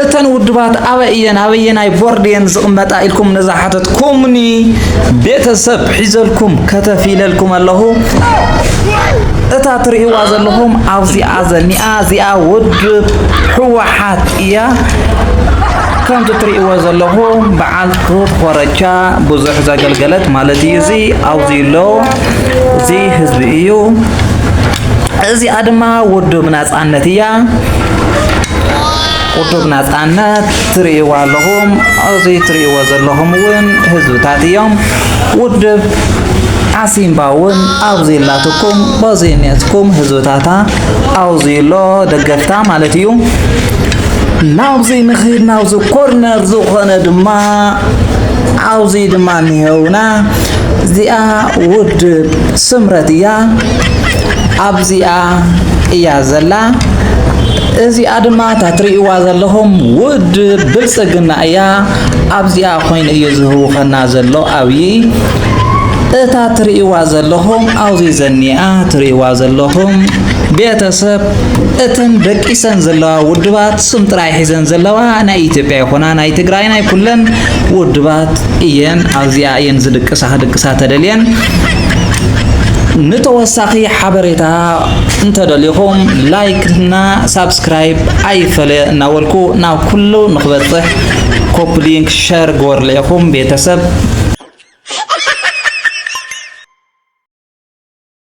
እተን ውድባት ኣበይ እየን ኣበየናይ ቦርድ እየን ዝቕመጣ ኢልኩም ንዝሓተትኩምኒ ቤተሰብ ሒዘልኩም ከተፍ ኢለልኩም ኣለኹ እታ ትርእይዋ ዘለኹም ኣብዚኣ ዘኒኣ እዚኣ ውድብ ህወሓት እያ ከምቲ ትርእይዎ ዘለኹም በዓል ክብ ኮረቻ ብዙሕ ዘገልገለት ማለት እዩ እዚ ኣብዚ ኣሎ እዚ ህዝቢ እዩ እዚኣ ድማ ውድብና ናጻነት እያ ቁዱብ ናጻነት ትርእይዎ ኣለኹም እዚ ትርእይዎ ዘለኹም እውን ህዝብታት እዮም ውድብ ዓሲምባ እውን ኣብዚ ኣላትኩም በዚ እኔትኩም ህዝብታታ ኣብዚ ኣሎ ደገፍታ ማለት እዩ ናብዚ ንኺድ ናብዚ ኮርነር ዝኾነ ድማ ኣብዚ ድማ እኒሀውና እዚኣ ውድብ ስምረት እያ ኣብዚኣ እያ ዘላ እዚኣ ድማ እታ ትርእይዋ ዘለኹም ውድብ ብልፅግና እያ ኣብዚኣ ኮይኑ እዩ ዝህውኸና ዘሎ ኣብዪ እታ ትርእይዋ ዘለኹም ኣብዚ ዘኒኣ ትርእይዋ ዘለኹም ቤተሰብ እተን ደቂሰን ዘለዋ ውድባት ስም ጥራይ ሒዘን ዘለዋ ናይ ኢትዮጵያ ይኹና ናይ ትግራይ ናይ ኩለን ውድባት እየን ኣብዚኣ እየን ዝድቅሳ ክድቅሳ ተደልየን ንተወሳኺ ሓበሬታ እንተደሊኹም ላይክ እና ሳብስክራይብ ኣይፈለ እናበልኩ ናብ ኩሉ ንክበፅሕ ኮፕሊንክ ሸር ግበርሉ ኢኹም ቤተሰብ